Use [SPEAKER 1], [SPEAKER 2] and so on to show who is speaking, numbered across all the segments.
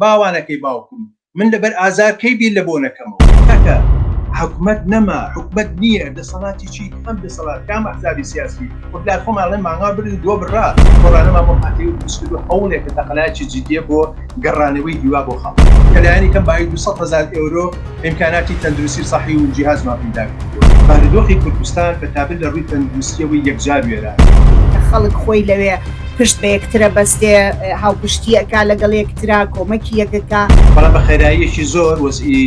[SPEAKER 1] باوانەکەی باوکم من لەبەر ئازار کەی بیر لە بۆ نەکەمەوە. کاکە حکومەت نەما حکومەت نیە دەسەڵاتی چی کام دەسەڵات کام ئەحزابی سیاسی وەک لار خۆمان ئەڵێن مانگا بردن دۆ بڕا گۆڕانەمان بۆ پارتی دروست کردوە هەوڵێکە تەقەلایەکی جدیە بۆ گەڕانەوەی هیوا بۆ خەڵک کە لایەنی کەم بایی دوو سەد هەزار ئێورۆ ئیمکاناتی تەندروستی سەحی و جیهازمان پەیدا کردووە. بارودۆخی کوردستان بە تابت لە رووی تەندروستییەوەی یەکجار وێرانە. خەڵک خۆی
[SPEAKER 2] لەوێ پشت بە یەکترە بەستێ، هاوپشتی ئەکا لەگەڵ یەکترا، کۆمەکی یەک ئەکا. بەڵام بە خێراییەکی
[SPEAKER 1] زۆر وەزعی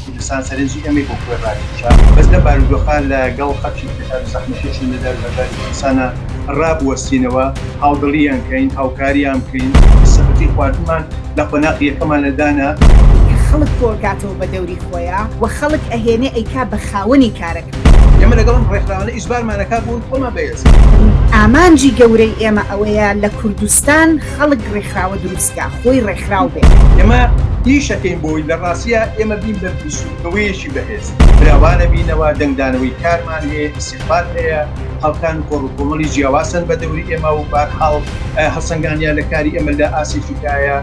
[SPEAKER 1] کوردستان سەرنجی ئێمەی بۆ خۆی راکێشا. بەس لەم بارودۆخە لە گەڵ خەڵکی. کار و زەحمەتیشی لەدار و هەژاری کوردستانا ڕابوەستینەوە، هاوڵدڵیان کەین، هاوکاریان بکەین، سەبەتی خواردنمان لە قۆناغی یەکەمانا دانا. خەڵک
[SPEAKER 2] کۆئەکاتەوە بە دەوری خۆیا و خەڵک ئەهێنێ ئەیکا بە خاوەنی کارەکە. ئێمە لەگەڵ ئەم
[SPEAKER 1] ڕێکخراوانە ئیجبارمان ئەکا بوون خۆمان بە یەس. ئامانجی
[SPEAKER 2] گەورەی ئێمە ئەوەیە لە کوردستان خەڵک ڕێکخراوە دروست کا، خۆی ڕێکخراو بێ. ئێمە
[SPEAKER 1] ئیش ئەکەین بۆی، لە ڕاستیا ئێمە بین بە بیسوودنەوەیەکی بەهێز. فراوانە بینەوە دەنگدانەوەی کارمان هەیە ئیستیغفار هەیە خەڵکان و کۆڕو کۆمەڵی جیاواسن بە دەوری ئێمە و بارحاڵ هەڵسەنگانیان لە کاری ئێمە لە ئاسێکی کایە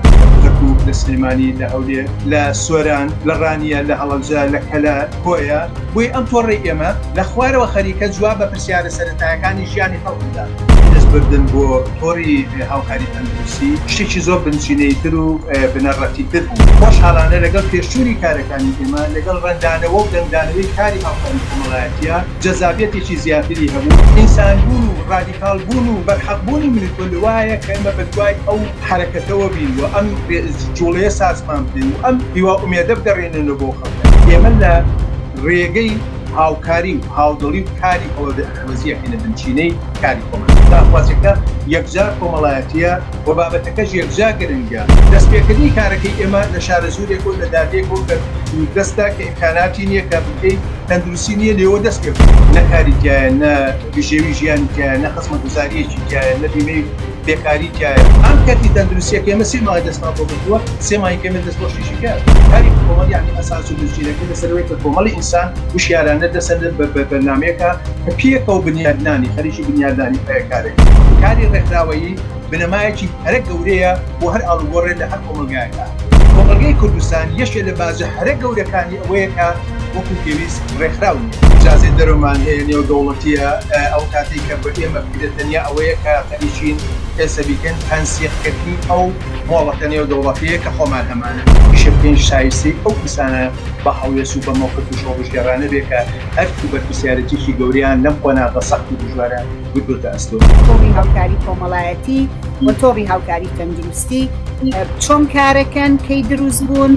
[SPEAKER 1] کەرکوک لە سلێمانی لە هەولێر لە سۆران لە ڕانیە لە هەڵەبجە لە کەلە کۆیە بۆیە ئەم تۆڕەی ئێمە لە خوارەوە خەریکە جواب بە پرسیارە سەرەتایەکانی ژیانی خەڵک بدات. دەست بردن بۆ تۆڕی هاوکاری تەندروستی شتێکی زۆر بنچینەیی تر و بنەڕەتی تر بوو خۆشحاڵانە لەگەڵ پێشچونی کارەکە. ی ئێمە لەگەڵ ڕەنگدانەوە و دەنگدانەوەی کاری هاوکاری کۆمەڵایەتییە جەزابیەتێکی زیاتری هەبوو، ئینسان بوون و ڕادیکاڵ بوون و بەرحەق بوونی من و تۆ لەوایە کە ئێمە بەدوای ئەو حەرەکەتەوە بین و ئەم جوڵەیە سازمان بدەین و ئەم هیوا ئومێدە بگەڕێنێنەوە بۆ خەڵکە ئێمە لە ڕێگەی هاوکاری و هاودڵی و کاری ئەوە وەزیەکەی لە بنچینەی کاری کۆمەڵایەتی داخوازیەکە یەکجار کۆمەڵایەتیە و بابەتەکەش یەکجا گرنگە. دەستپێکردنی کارەکەی ئێمە لە شارەزوورێک و لە دادێک و کە دووردەستە کە ئیمکاناتی نیە کە بنکەی تەندروستی نیە لێوە دەست پێ بکەین. نە کاری تیایە نە بژێوی ژیانی تیایە نە خزمەتگوزاریەکی تیایە نە بیمەی. بێکاری تیایە ئەم کەرتی تەندروستیە کە ئێمە سێ ماوەی دەستمان بۆ گرتووە سێ ماهی کەمێ دەست بۆ شیشی کار کاری کۆمەڵ یعنی ئەساس و بنچینەکەی لەسەر ئەوەیە کە کۆمەڵی ئینسان وشیارانە دەسەن بە بەرنامەیەکا کە پێکەوە بنیادنانی خەریکی بنیادنانی هەیە کارێک کاری ڕێکخراوەیی بنەمایەکی هەرە گەورەیە بۆ هەر ئاڵوگۆڕێ لە هەر کۆمەڵگایەکە کۆمەڵگەی کوردستان یەکێ لە بازە هەرە گەورەکانی ئەوەیە کە وەکو پێویست ڕێکخراو نییە ئیجازەی دەرمان هەیە نێودەوڵەتییە ئەو کاتەی کە بە ئێمە ئیدە تەنیا ئەوەیە کە خەریکین ئێسە بیکەین تەنسیق کردنی ئەو مۆڵەتە نێو دەوڵەتیە کە خۆمان هەمانە ئیشە بکەین شایستەی ئەو کەسانە بە هەڵوێست و بە مەوقف و شۆڕشگێڕانە بێ کە ئەرک و بەرپرسیارەتیەکی گەورەیان لەم قۆناغە سەخت و دژوارە گرتۆتە ئەستۆ. تۆڕی هاوکاری
[SPEAKER 2] کۆمەڵایەتی و تۆڕی هاوکاری تەندروستی چۆن کارەکەن کەی دروست بوون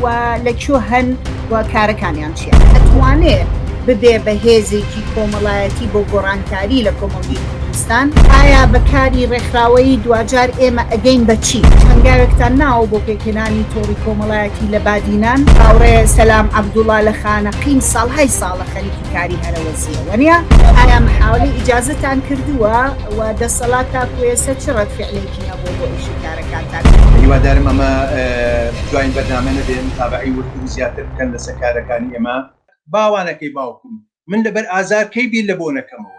[SPEAKER 2] و لە کوێ هەن؟ و کارەکانیان چیە؟ ئەتوانێ ببێ بە هێزێکی کۆمەڵایەتی بۆ گۆڕانکاری لە کۆمەڵگەی کوردستان؟ ئایا بە کاری ڕێکخراوەیی دواجار ئێمە ئەگەین بە چی؟ هەنگاوێکتان ناوە بۆ پێکهێنانی تۆڕی کۆمەڵایەتی لە بادینان؟ هاوڕێ سەلام عەبدوڵا لە خانەقین ساڵهای ساڵە خەریکی کاری هەرەوەزییە، وەنیە؟ ئایا محاولەی ئیجازەتان کردووە و دەسەڵات تاکو ئێسە چ ڕەدفیعلێکی هەبووە بۆ ئیشی کارەکانتان؟ هیوادارم ئەمە
[SPEAKER 1] دواین بەرنامە نەبێ متابەعەی وردتر و زیاتر بکەن لەسە کارەکانی ئێمە. باوانەکەی باوکم من لەبەر ئازار کەی بیر لە بۆ نەکەمەوە.